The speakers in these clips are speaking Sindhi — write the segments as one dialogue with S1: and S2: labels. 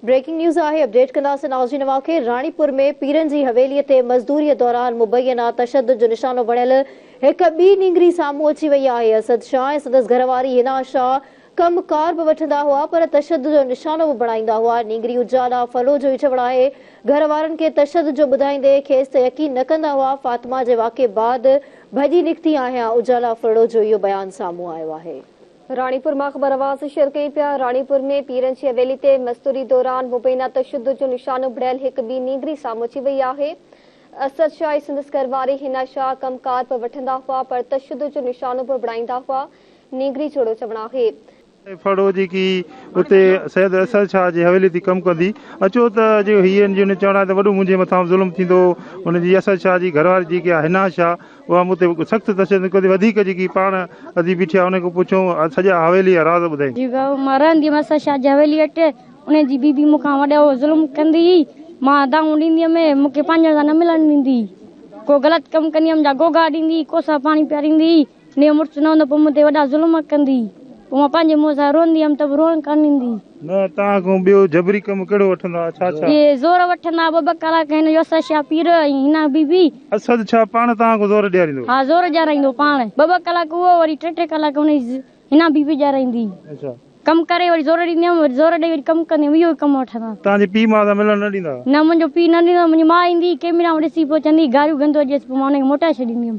S1: بريڪنگ نيوز آهي اپڊيٽ ڪنداسين نازرين اوهان کي راڻيپور ۾ پيرن جي حويلي تي مزدوري دوران مبينا تشدد جو نشانو بڻيل هڪ ٻي نينگري سامهون اچي وئي آهي اسد شاهه ۽ سندس گهر واري هنا شاهه ڪم ڪار به وٺندا هئا پر تشدد جو نشانو به بڻائيندا هئا نينگري اجالا ڦلو جو ئي چوڻ آهي گهر وارن کي تشدد جو ٻڌائيندي کيس ته يقين نه ڪندا هئا فاطمه جي واقعي بعد ڀڄي نڪتي آهيان اجالا ڦلڙو جو اهو بيان سامهون آيو آهي. راڻيپور ماخبرواز شيئر ڪيون پيا راڻيپور ۾ پيرن جي حويلي تي مستوري دوران مبينا تشدد جو نشان اڀريل هڪ ٻي نينگري سامهون اچي وئي آهي اسد شاهه ۽ سندس گهرواري حنا شاهه ڪم ڪار به وٺندا هئا پر تشدد جو نشانو به بڻائيندا هئا نينگري جهڙو چوڻ آهي ڦڙو جيڪي
S2: اتي سيد اسد شاهه جي حويلي تي ڪم ڪندي اچو ته جي هي ان جو چوڻ آهي ته وڏو منهنجي مٿان ظلم ٿيندو هو ان جي اسد شاهه جي گهرواري جيڪي آهي حنا شاهه اها مون تي سخت تشدد ڪندي وڌيڪ جيڪي پاڻ ادي بيٺي آهي ان کان پڇيو ۽ سڄا حويلي جا راز ٻڌائين. جيڪا مان رهندي هيس
S3: شاهه جي حويلي هيٺ ان جي بي بي مون کان وڏو ظلم ڪندي هئي مان دانهون ڏيندي هيم مون کي پنهنجن سان نه ملڻ ڏيندي هئي ڪو غلط ڪم ڪندي هيم جا گوگا ڏيندي هئي ڪوسا پاڻي پياريندي هئي نيو مڙس نه هوندو پوء مون تي وڏا ظلم ڪندي هئي پوء مان پنهنجي منهن سان روئندي هيم ته به روئڻ ڪانه ڏيندي هئي. نه توهان کان
S2: ٻيو جبري ڪم ڪهڙو وٺندا ها ڇا ڇا. اهي زور وٺندا ها ٻه
S3: ٻه ڪلاڪ هن يوسف شاهه پير ۽ هن بي بي. اسد ڇا پاڻ
S2: توهان کان زور ڏياريندو. ها زور ڏيارائيندو
S3: پاڻ ٻه ٻه ڪلاڪ اهو وري ٽي ٽي ڪلاڪ هن هنا بي بي ڏيارائيندي اچا. ڪم
S2: ڪري وري زور
S3: ڏيندي هيم وري زور ڏئي وري ڪم ڪندي هيم اهو ڪم وٺندا. توهان جي پي ماء سان ملڻ
S2: نه ڏيندا ها. نه منهنجو پي نه ڏيندو
S3: منهنجي ماء ايندي هئي ڪيمرا ۾ ڏسي پوء چوندي هئي گاريون گندو ڏيس پوء مان هن کي موٽائي ڇڏيندي هيم.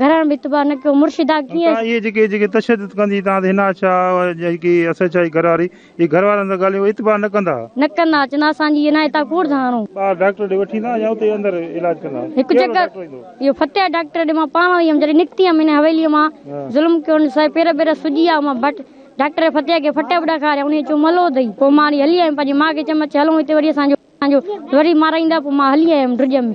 S3: گهرڻ به اتباع نه ڪيو مرشدا ڪيئن. تان اهي جيڪي جيڪي تشدد
S2: ڪندي تان تي هنا شاهه جيڪي ايس ايڇ آء گهر واري اهي گهر وارن سان ڳالهيون اتباع نه ڪندا. نه ڪندا چوندا اسان
S3: جي هنا هتان ڪوڙ ٿا هڻون. ٻاهر ڊاڪٽر ڏي وٺي ايندا
S2: يا اتي اندر علاج ڪندا. هڪ چڪر
S3: اهو فتح ڊاڪٽر ڏي مان پاڻ وئي هيم جڏهن نڪتي هيم هن حويلي مان ظلم ڪيو هن سائي پير بير سجي آ مان ڀٽ ڊاڪٽر فتح کي ڦٽا به ڏکاريا انهي چيو ملو اٿئي پوء مان هلي آيم پنهنجي ماء کي چيم اچ هلون هتي وري اسان جو وري مارائيندا پوء مان هلي آيم ڊڄ ۾.